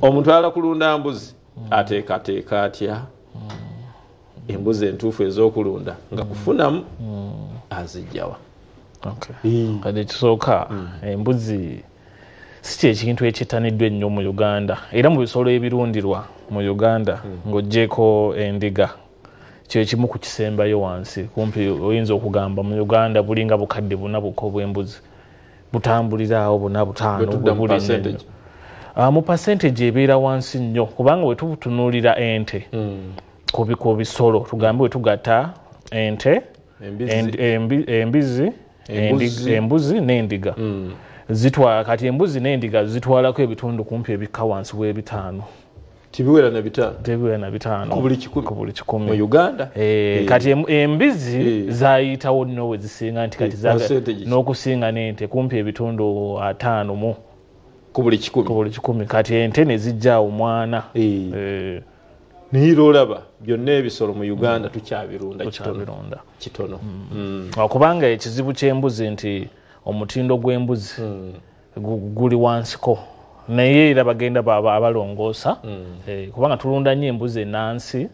omuntu ayala kulunda mbuzi hmm. ateekateeka atya hmm. embuzi entuufu ezokulunda nga hmm. kufunamu azijjawa kati ekisooka embuzi si kyekintu ekyetaniddwa ennyo mu uganda era mu bisolo ebirundirwa mu uganda ng'ogyeko endiga kyekimu ku kisembayo wansi kumpi oyinza okugamba mu uganda bulinga bukadde buna bukko bw'embuzi butambulira awo buna butaano ah, mu percentage ebeera wansi nnyo kubanga wetutunuulira ente hmm. ku bisolo tugambe wetugata ente embizi embuzi n'endiga hmm. zitwala kati embuzi n'endiga zitwalako ebitundu kumpi ebikka wansi w'ebitaano tibiwera na bitaano tebiwera na bitaano ku buli kikumi ku buli kikumi mu Uganda eh, eh. kati embizi eh. zayitawo nno we zisinga nti kati eh, n'okusinga n'ente kumpi ebitundu ataano mu ku buli kikumi ku buli kikumi kati ente ne zijja omwana eh. eh. naye lwolaba byonna ebisolo mu uganda mm. tukyabirunda tukyabirunda kitono mm. mm. kubanga ekizibu ky'embuzi nti omutindo gw'embuzi mm. guli wansiko naye era bagenda abalongoosa mm. eh, kubanga tulunda nnyo embuzi enansi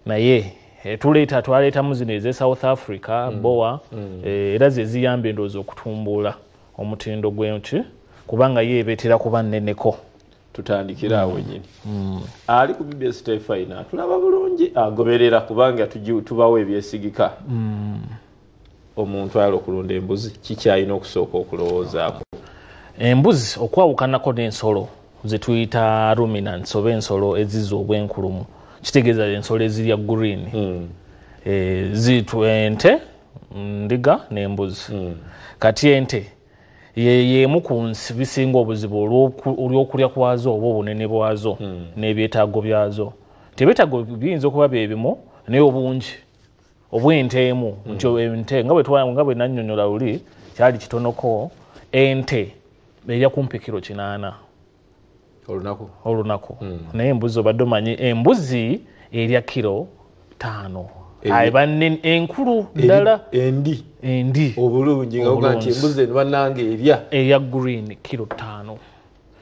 naye eh, tuleeta twaleetamu zino eze south africa mm. boa mm. Eh, era zeziyamba endowooza okutumbula omutindo gwenki kubanga ye ebetera kuba nneneko tutandikira awo nyini ali ku bbs tefina tulaba bulungi agoberera kubanga tubawo ebyesigika omuntu ayala okulunda embuzi kikyalina okusooka okulowoozaako embuzi okwawukanako n'ensolo zetuyita ruminants oba ensolo eziza obwenkulumu kitegeeza ensolo ezirya green hmm. eh, zitu ente ndiga n'embuzi hmm. kati ente yeyemu ku nsi bisinga obuzibu olw'okulya kwazo oba obunene bwazo hmm. n'ebyetaago byazo tebyetaago biyinza okuba byebimu naye obungi oba ente emu hmm. nti ente nga bwetwanga bwe nannyonyola luli kyali kitonoko ente erya kumpi kiro kinaana olunaku olunaku hmm. naye embuzi obadde omanyi embuzi erya kiro taano banne enkulu ddala endi endi obulungi nga oga nti embuzi eno bannange erya eya green kiro taano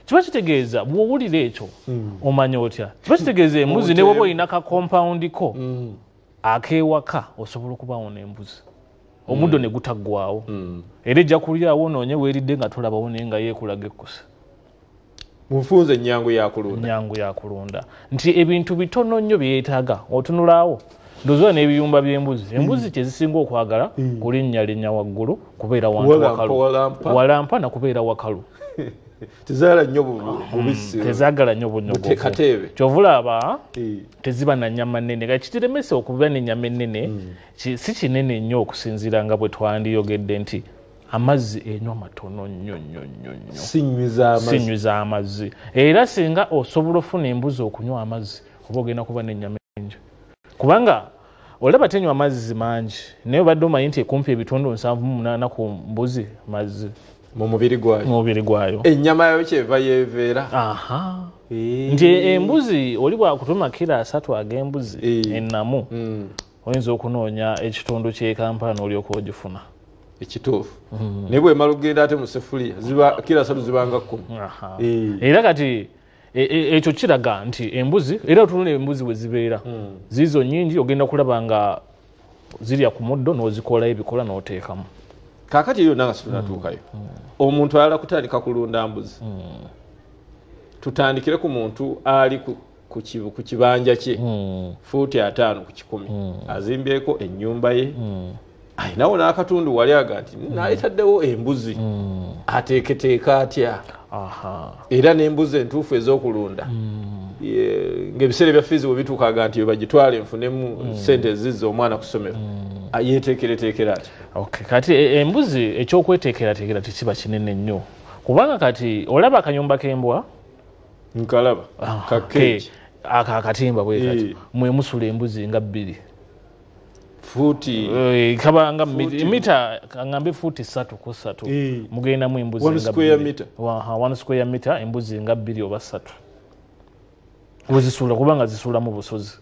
kiba kitegeeza bwowulira ekyo hmm. omanya otya kiba kitegeeza embuzi newoba olina ka compound ko mm. akewaka osobola okubawo nembuzi omuddo mm. ne gutaggwawo mm. era ejja kulyawo onoonye weeridde nga tolabawo naye nga yeekulaga ekkusa munfunza ennyangu yakulunda nnyangu yakulunda nti ebintu bitono nnyo byeyetaaga otunulaawo ndozola n'ebiyumba by'embuzi mm. embuzi kyezisinga okwagala kulinnya linnya waggulu kubeera wantuwalampa na kubeera wakalu tezagala nnyo bubisi tezagala nnyo bunyogovu kyovulaba teziba na nyama nene kati kitiremesa okuba nenyama enene mm. si kinene nnyo okusinziira nga bwe twandiyogedde nti amazzi enywa matono nnyo nnyo nnyo nnyo sinywiza amazzi era singa osobola ofuna embuzi okunywa amazzi oba ogenda kuba nenyama enjo kubanga olaba tenywa mazzi mangi naye obadde omanyi nti ekumpi ebitundu nsanvu mumunana ku mbuzi mazzi mumubiri gwayo mumubiri gwayo enyama yayo kyeva yeveera nti embuzi oli bwakutuma kira asatu agembuzi enamu mm. oyinza okunoonya ekitundu kyekampala nolyoka ogifuna ekituufu mm. naye bwemala okugenda ate musefuliya kira asatu zibanga kumi era kati E, e, ekyo kiraga nti embuzi era otunula embuzi we zibeera hmm. ziizo nyingi ogenda kulaba nga zirya ku muddo n'ozikolayo ebikola n'oteekamu kakati eyo nanga situnatuukayo hmm. hmm. omuntu ayala kutandika kulunda mbuzi tutandikire ku muntu ali ku kibanja kye fuuti ataano ku kikumi azimbyeko ennyumba ye ayinawo n'akatundu wali aga nti mm. naletaddewo embuzi mm. ateeketeeka atya era n'embuzi entuufu ez'okulunda mm. ngaebiseera ebya fiizi bwe bituukaga nti bagitwale nfunemu sente ezizza omwana ku ssomero yeteekereteekera ati kati e, embuzi ekyokweteekerateekera tekiba kinene nnyo kubanga kati olaba akanyumba k'embwa nkalaba ah, kakeeki ako akatimba bwekati mwemusula embuzi nga bbiri futi eh, kabanga mita kangambe futi satu ku satu eh. mugenda mu embuzi one square meter waha one square meter embuzi nga bili oba satu wezisula kubanga zisula mu busozi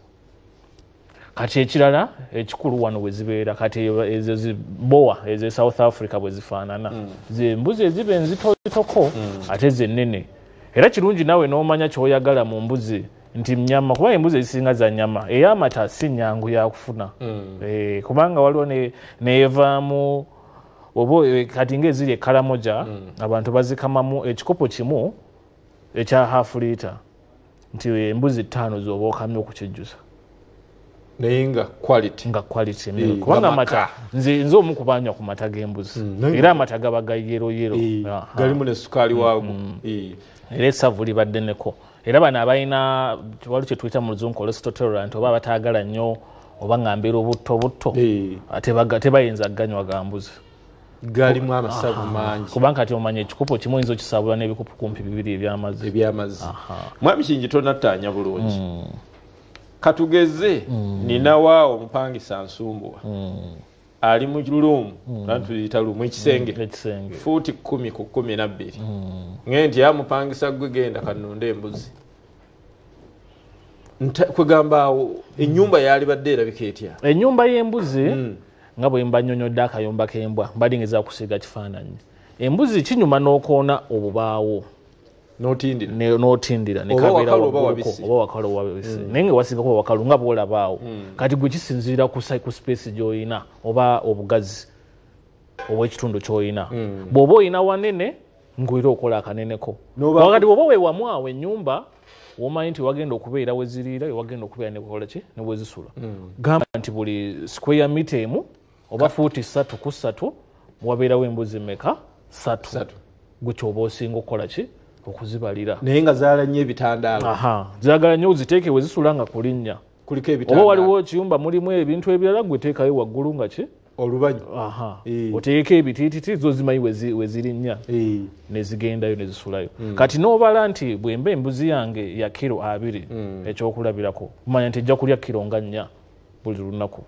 kati ekirala ekikulu wano wezibeera kati ezo zibowa ezo south africa bwezifaanana mm. zembuzi eziba enzitozitoko mm. ate zenene era kirungi nawe nomanya kyoyagala mu mbuzi nti nyama kuba embuzi ezisinga za nyama eyamata si nyangu yakufuna mm. e, kubanga waliwo neyevaamu oba eh, kati nga eziri ekalamoja mm. abantu bazikamamu ekikopo kimu ekya half lita nti embuzi ttaano zoba okamya okukijjusa naye nga quality nga quality mm. Eh, kubanga amata nze nze omu kubanywa ku mata g'embuzi mm. era amata gaba ga yero yero galimu ne sukaali waago era esavu libaddeneko era bano abalina wali kyetuyita mu luzungu olestoterant oba abataagala nnyo oba ngambira obutto obutto eh. tebayinza ganywa gambuzi galimu amasavu mangi kubanga kati omanya ekikopo kimu oyinza okisabula n'ebikopo kumpi bibiri ebyamazzi ebyamazzi mwami kingi tonattaanya bulungi hmm. katugeze hmm. ninawaawo omupangisa nsumbuwa hmm. ali mu luum natuyita mm. lumu ekisenge mm, fuuti kumi ku kumi nabbiri mm. ngee nti amupangisa gwe genda kanunda embuzi kwegamba awo enyumba yalibadde erabika etya enyumba y'embuzi nga bwemba nyonyodde akayumba k'embwa mbadingeza kusiiga kifaananyi embuzi kinyuma n'okoona obubaawo notindira nekabeera wagguluko oba wakalo oba wabisi mm. naye nga wasinga kuba wakalu nga bwolabaawo mm. kati gwe kisinziira ku space gyolina oba obugazi obwekitundu kyolina mm. bw'oba olina wanene ngwera okola akaneneko wakati bw'oba wewamu awo enyumba womanyi nti wagenda okubeera weziriira wewagenda okubeera nekola ki newezisula gamba nti buli square mita emu oba fuuti satu ku satu wabeerawo embuzi meka satu gutya oba osinga okukola ki okuzibalira naye nga zaala nnyo ebitandaalo zagala nnyo ziteeke we zisula nga kulinnya oba waliwo ekiyumba mulimu ebintu ebirala gwe teekayo waggulu nga ki olubanyu eh. oteekeko ebitiititi zo zimanyi we zirinnya eh. ne zigendayo ne zisulayo hmm. kati n'obala nti bwemba embuzi yange ya kiro abiri hmm. ekyokulabirako manya nti ejja kulya kiro nga nnya buli lunaku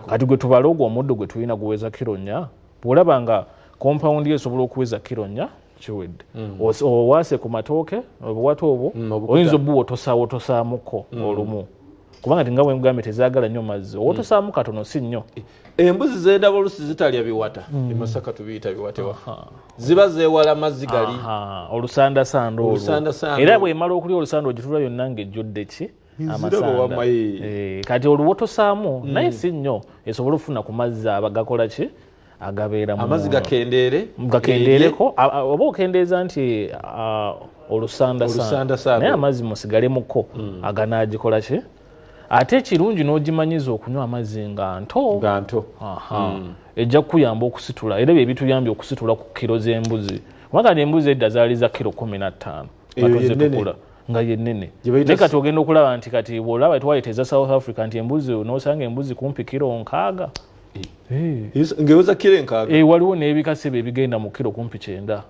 kati gwe tubale ogwo omuddo gwe tulina guweza kiro nya bwolaba nga kompawundi yo esobola okuweza kiro nya kiwedde mm. owaase ku matooke obuwata obwo mm, oyinza obuwa otosaawo otosaamuko mm. olumu kubanga tinga wemugambye tezagala nnyo mazzi owotosaamu katono si nnyo e, embuzi zendaba olusi zitalya biwata emasaka tubiyita biwata ziba zewala mazzi gali olusandasanda olwo era bwemala okulya olusanda ogitula yonna nga ejjudde ki amasanda eh, kati oluwotosaamu mm. naye si nnyo esobole okufuna ku mazzi abagakola ki agabeeramuamazzi gakendeere gakendeereko oba okendeeza nti olusandasandaye amazzi musigalemukko mm. aganagikola ki ate ekirungi n'ogimanyiza okunywa amazzi nga nto nga nto mm. ejja kukuyamba okusitula era ebyo ebituyambye okusitula ku kiro z'embuzi kubanga embuzi edda zaali za kiro kumi na ttaano batuze tukula nga yenene naye kati ogenda okulaba nti kati bwolaba twaleta eza south africa nti embuzi nosanga embuzi kumpi kiro nkaaga eh. Eh. ngeweza kiro enkaaga eh, waliwo nebikasebe ebigenda mu kiro kumpi kyenda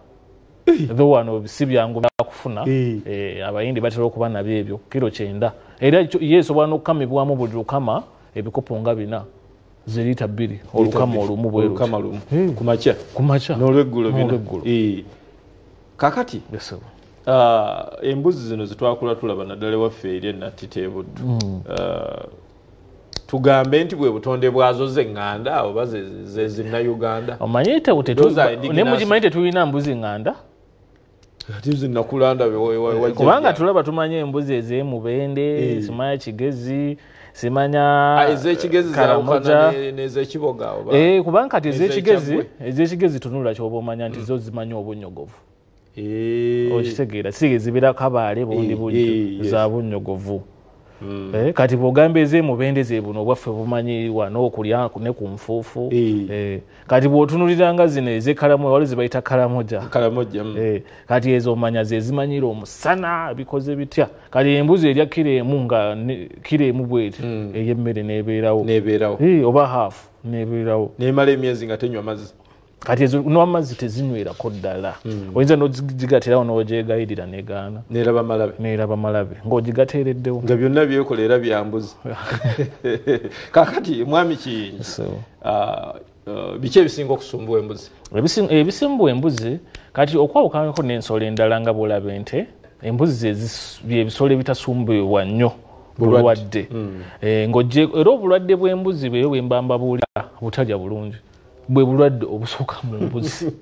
tho wano si byangu byakufuna abayindi batera okuba nabyo ebyo kiro kyenda era yesobola nokukamibwamu buli lukama ebikopo nga bina ze lita bbiri olukama olumu bwelukama lumu hey. kumakya kumakya nolweggulo nolweggulo hey. kakati yes, uh, embuzi zino zetwakula tulaba naddala ewaffe eri enatiteebuddu mm. uh, tugambe nti bwe butonde bwazo zeŋŋanda oba zezinna uganda omanyi temugimanyi tetulina mbuzi ŋŋanda kubanga tulaba tumanya embuzi ezemubende eh. simanya kigezi simanya ah, eh, kubanga kati ezekigezi ezekigezi tunula kyoba omanya nti mm. zo zimanya obunyogovu eh. okitegeera si ezibira kabaale bundi bunyo za bunyogovu Mm. Eh, kati bwogamba ezemubende zebuno obwaffe bumanyi wano okulya ne ku nfuufu eh. eh, kati bwotunuliranga zino ezekalamu wali zebayita kalamoja mm. eh, kati ezo omanya zezimanyira omusana bikoze bitya kati embuzi erya kiro emu nga kiro emu bweti mm. eyemmere nebeerawo eh, oba haafu nebeerawo nemala emyezi nga tenywa mazzi kati ezo n'amazzi tezinywerako ddala hmm. oyinza nogigatirawo nogyegayirira negaana neraba malabe ng'ogigateereddewo nga byonna byekola era byambuzi kakati mwami kiyingi ah, ah, biki ebisinga okusumbuwa embuzi ebisumbuwa embuzi kati okwawukanako n'ensolo endala nga bwolaba ente embuzi byebisolo ebitasumbuibwa nnyo bulwadde hmm. eh, ng'oje era obulwadde bw'embuzi bweyo bwembambabuulira butalya bulungi bwe bulwadde obusooka mu mbuzi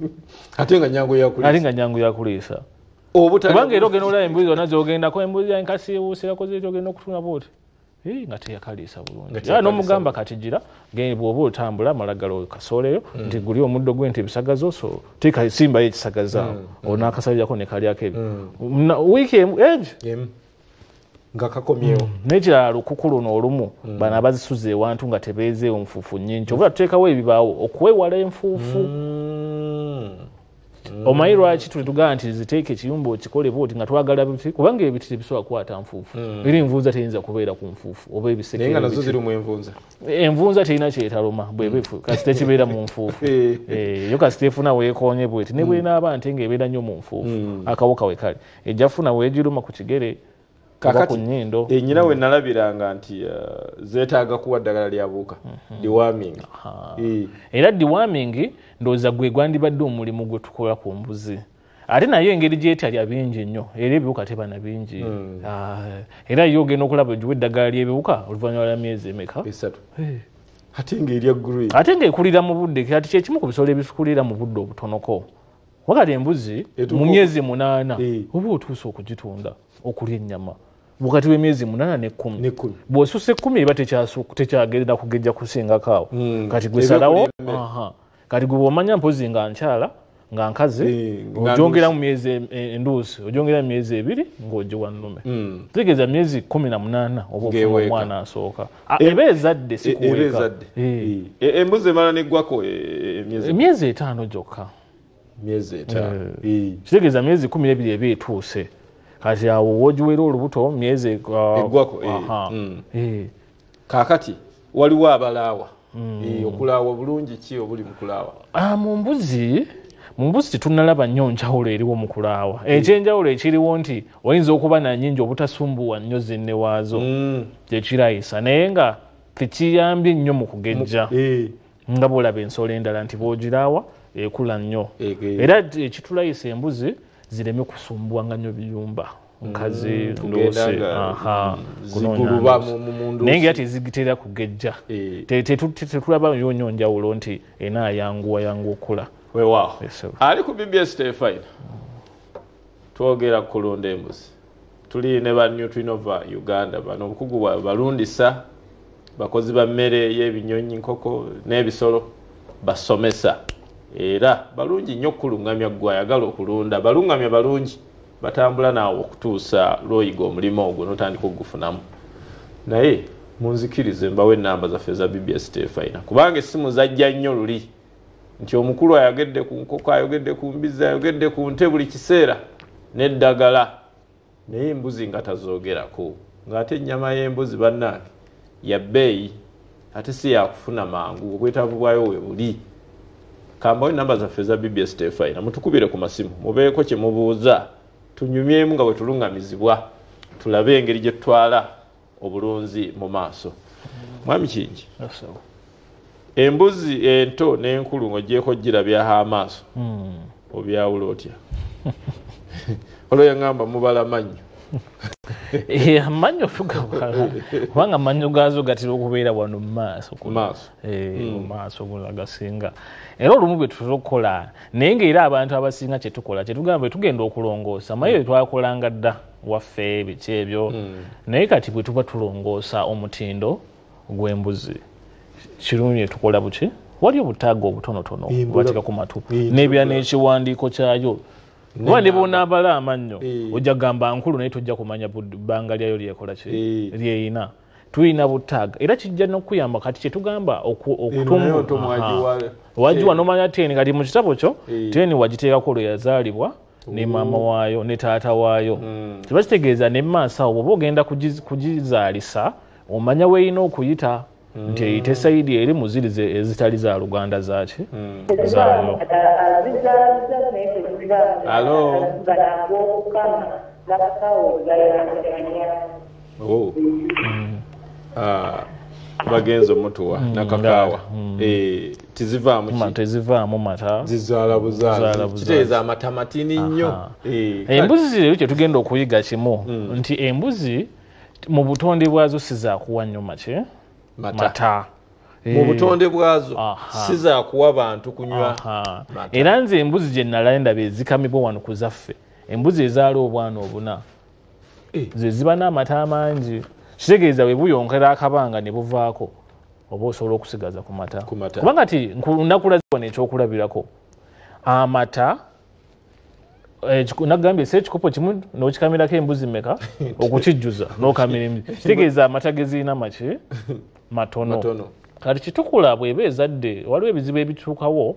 ate nga nyangu yakuleesa ate nga nyangu yakuleesa obutubanga era ogenda olaba embuzi zonna zogendako embuzi ya nkasi ewuusirako zeti ogenda okutuna booti nga teyakaliisa bulungi era n'omugamba kati gira bwoba otambula amalagala kasooleyo mm. nti guli omuddo gwe nti ebisagazo so tekasimbayo ekisagazaawo mm. onaakasabirako nekalyako ebyo mm. wiiki emu ebyo nga kakomyewo mm. nekirala lukuku luno olumu mm. bano abazisuza ewantu nga tebeezeewo nfuufu nyingi kyobula mm. tuteekawo ebibaawo okwewala enfuufu mm. mm. omanyi lwaki tuli tugamba nti ziteeka ekiyumba okikole booti nga twagala biti kubanga ebiti tebisobola kukwata nfuufu mm. era envunza teyinza kubeera ku nfuufu oba ebisekenvunza envunza terina kyetaluma bwebefu mm. kasita ekibeera mu nfuufu eh. Eh, yo kasita efuna weekonye bweti ne mm. bwenaaba nte nga ebeera nnyo mu nfuufu mm. akawoka we kale ejja funa wegiruma ku kigere oba ku nyindo eh, nyina we mm. nalabiranga nti eh, zetaaga kuwa ddagala lya buuka mhm. dewarming eh. era dewarming ndowooza gwe gwandibadde omulimu gwe tukola ku mbuzi ate nayo engeri gyetalya bingi nnyo era ebiwuka tebana bingi mm. ah, era yo ogenda okulaba egiwa eddagala ly'ebiwuka oluvannyuma lwa myezi emeka ate ngaekulira mu budde kati kyekimu ku bisolo ebikulira mu budde obutonoko wakati embuzi mu myezi munaana eh. oba otuusa okugitunda okulya ennyama wakati w'emyezi munaana nekkumi bw'osusa ekkumi eba tekyagerera kugejja kusingako awo hmm. kati gwesalawo kati gwe bwomanya mpozi nga nkyala nga nkazi eh, ojongera mu myezi e, e, enduusi ojongera mu myezi ebiri ng'ogiwa nnume hmm. tegeeza myezi kumi na munaana oba ofuna omwana asooka ah, eba ezadde sikuweeka eh. embuzi emala neggwako eh, emyezi etaano gyokka eh, kitegeeza myezi kumi nebiri eba etuuse kati awo wogiweera olubuto myezi eggwako ah, eh, mm. eh. kakati waliwo abalaawa mm. okulaawa obulungi ki obuli mukulaawa ah, mu mbuzi mu mbuzi tetunalaba nnyo njawulo eriwo mu kulaawa mm. ekyenjawulo ekiriwo nti oyinza okuba nanyingi obutasumbuwa nnyo zinne waazo kyekirayisa naye nga tekiyambye nnyo mu kugejja nga bwolaba ensolo endala nti bwogiraawa ekula nnyo era ekitulayisa embuzi zireme kusumbwanga nnyo biyumba nkazi mm, ndoose mm, naye nga tezigitera kugejja eh. tetulaba yo nyo njawulo nti ena ayanguwa yangu okula wewawo ali ku bbs tefayina twogera kukulunda embuzi tuli ne ba nutrinova uganda bano obukugu bwabwe balundisa bakozi ba mmere y'ebinyonyi nkoko n'ebisolo basomesa era balungi nnyo okukuluŋŋamya gwe ayagala okulunda baluŋŋamya balungi batambula naawe okutuusa lwoyiga omulimu ogwo notandika okugufunamu naye munzikirize mbawo enamba zaffe eza bbs tefina kubanga essimu zajja nnyo luli nti omukulu ayogedde ku nkoko ayogedde ku mbizi ayogedde ku nte buli kiseera neddagala naye embuzi nga tazoogerako ng'ate ennyama y'embuzi bannange ya bbeeyi ate si yakufuna mangu obwetaavu bwayo we buli kambawo enamba zaffe eza bbs tefayina mutukubire ku masimu mubeeko kye mubuuza tunyumyemu nga bwe tulungamizibwa tulabe engeri gye tutwala obulunzi mu maaso mwami kingi embuzi ento n'enkulu ng'ogyeko girabyaho amaaso hmm. obyawula otya olwo yaŋamba mubala mannyo eh, amannyo kubanga amannyo gaazo gatera okubeera wano mu maaso maaso eh, hmm. agasinga era olumu bwe tutera okukola naye ngaera abantu abasinga kyetukola kyetugamba bwe tugenda okulongoosa maye bwe twakolanga dda waffe biki ebyo hmm. naye kati bwe tuba tulongoosa omutindo gw'embuzi kirungi ne tukola buki wali obutaaga obutonotono bwateeka ku matu n'ebira n'ekiwandiiko kyayo kuba ne bwonaabala amannyo ojja gamba nkulu naye tojja kumanya bbanga lyayo lyekola ki lyeyina tulina butaaga era kijja nokuyamba kati kyetugamba okutumwagiwa nomanya teni kati mu kitabo kyo teni wagiteekako lwe yazaalibwa ne maama waayo ne taata waayo hmm. kiba kitegeeza ne maaso awo bwoba ogenda kugizaalisa omanya weerina okuyita hmm. nti eyite sayidi eri muzirize ezitali za luganda zaki hmm. zaayo oh. ah, bagenze omutuwa nakakaawa eh. tezivaamu mata zizaala buzaalakiteeza amata matini nnyo eh, embuzi zirero kyetugenda okuyiga kimu hmm. nti embuzi mu butonde bwazo sizakuwa nnyo make mata eh. mu butonde bwazo sizakuwa bantu kunywa era nze embuzi gye nalaendaba ezikamibwa wano ku zaffe embuzi ezaala obwana obuna eh. ze ziba n'amata amangi kitegeeza bwe buyonkera akabanga ne buvaako oba osobola okusigaza ku mata kubanga ti nakulaziwa nekyokulabirako amata eh, nagambye ese ekikopo kimu nokikamirako embuzi meka okukijjuza nokamira embuzi kitegeeza amata gezirina maki matono kati kitukula bweba ezadde waliwo ebizibu ebituukawo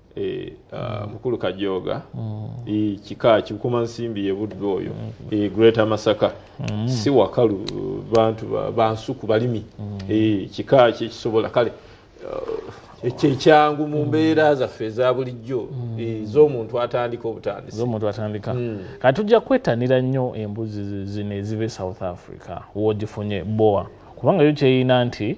Eh, ah, mukulu kajooga mm. eh, kika kikuma nsimbi yebuddu oyo mm. eh, greater masaka mm. si wakalu bantu bansuku balimi kika kyekisobola kale kyekyangu mu mbeera zaffe eza bulijjo z'omuntu atandika obutandisizomuntu atandika kati tujja kwetanira nnyo embuzi zino eziba e south africa wogifunye boa kubanga yo kyeyina nti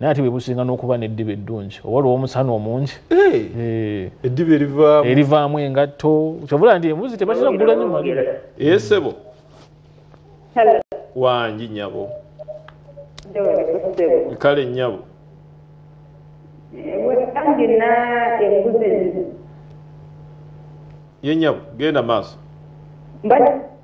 naye ate bwebusinga n'okuba n'eddiba eddungi oba lwomusana omungi eddiba erivaamu erivaamu engatto kyovula nti embuzi tebatera kugula nyuma esebo wangi nyabo kale nyabo ye nyabo genda maaso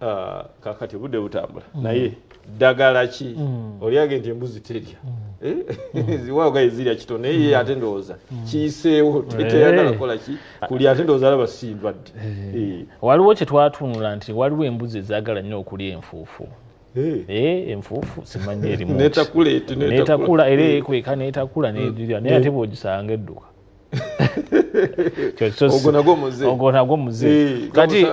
Ah, kakati budde butambula mm. naye ddagala ki mm. olyage nti embuzi terya mm. eh? mm. ziwaogaye zirya kito naye ye mm. ate ndowooza mm. kiyiseewo teteyagala eh. kola ki kuli ate ndowooza alaba si ndwadde eh. eh. waliwo kye twatunula nti waliwo embuzi ezaagala nnyo okulya enfuufu eh. eh, enfuufu simanyi erimunetakula era ekweka netakula nedira naye ate bwogisanga edduka ogwo nagwo muze ogwo nagwo muze eh, kati eh,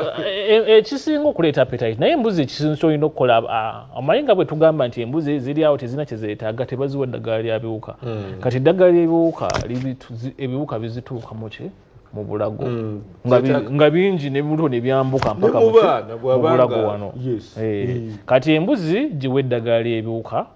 eh, ekisinga okuleeta appetite naye embuzi ekisinga kyolina okukola ah, omanyi nga bwe tugamba nti embuzi ziri awo tezirina kyezeetaaga tebaziwa eddagala lya biwuka hmm. kati eddagala lyebiwuka ebiwuka bizituuka muki mu bulago hmm. nga bingi nebibuto nebyambuka mpaka mu bulago wano kati embuzi giwa eddagala lyebiwuka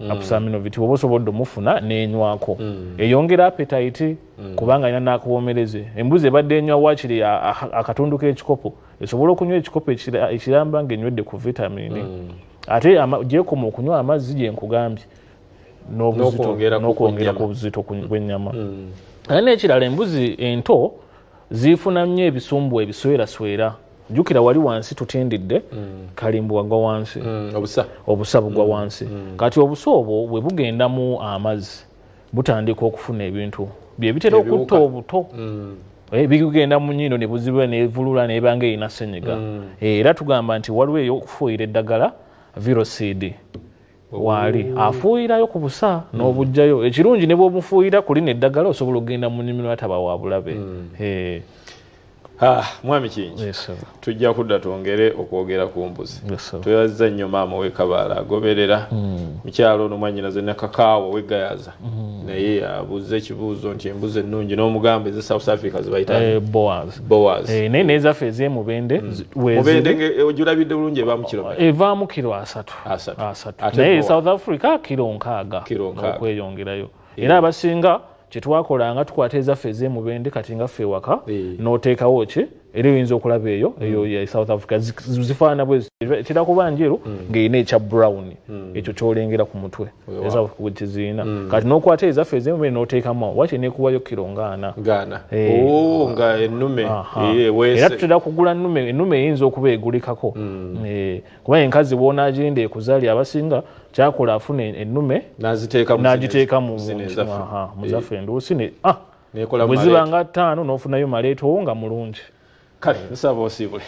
mm. apusaaminoviti woba osobodde omufuna nenywako mm. eyongera apetayiti mm. kubanga alina nakuwomereze embuzi ebadde enywa wakiri akatundu kekikopo esobola okunywa ekikopo ekiramba nga enywedde ku vitamini mm. ate gyekoma okunywa amazzi gyenkugambye nokwongera ku buzito bwenyama mm. ate nekirala embuzi ento ziifuna nnyo ebisumbu ebisweraswera jukira wali wansi tutindidde mm. kalimbu wagwa wansi mm, obusa obusa bugwa mm, wansi mm. kati obusa obwo bwe bugendamu amazzi butandika okufuna ebintu byebitera okutta obuto mm. Eh, bigenda mu nyindo ne buzibula ne vulula ne banga ina senyiga mm. eh, era tugamba nti waliwo eyo okufuuyira eddagala virocid waali afuuyirayo ku busa hmm. n'obujjayo ekirungi ne bwomufuuyira ku lino eddagala osobola okugenda mu nnimiro ataba wa bulabe hmm. ah, mwami kingi tujja kudda twongere okwogera ku mbuzi tweyazza nnyo maama wekabaala agoberera hmm. mukyalo ono mwanyinaze nakakaawa wegayaza naye abuuza ekibuuzo nti embuzi ennungi n'omugamba eze south africa zibayitaboaznaye eh, eh, nezaffe ezemubende mubende ojulabidde bulungi evaamu kiro asatu naye south africa kiro nkaaga okweyongerayo era abasinga kyetwakolanga tukwata ezaffe ezemubende kati nga ffe ewaka noteekawo ki era oyinza okulaba eyo mm. eyo ya south africa zifaanana bwezi etera kuba njeru mm. ngaerina ekya brown mm. ekyo kyolengera ku mutwe kiziina kati nokwata ezaffe ezemubende noteekamu wati nekuwayo kiro ngaana eh. oh, era tutera kugula enume enume eyinza okuba egulikako eh. kuba enkazi wonagenda ekuzali abasinga kyakola afuna enume nagiteeka muzaffe eh. enduusi ah, bweziba nga ttaano nofunayo maleetowo nga mulungi kale nsaba osiibule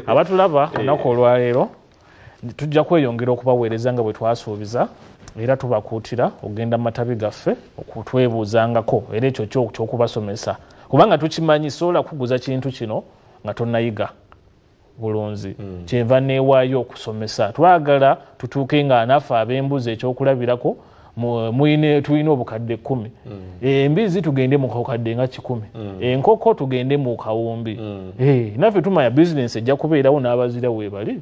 abatulaba eh. olunaku olwaleero tujja kweyongera okubaweereza nga bwe twasuubiza era tubakuutira okugenda mu matabi gaffe okutwebuuzangako era ekyo kyokubasomesa kubanga tukimanyi sobola kuguza kintu kino nga tonayiga bulunzi mm. kyeva newayo okusomesa twagala tutuuke nga anaffe abembuzi ekyokulabirako tulina obukadde kumi mm. eh, embizi tugende mukakadde nga kikumi mm. enkoko eh, tugende mu kawumbi mm. eh, naffe tumanya bizinensi ejja kubeerawo n'abazira webali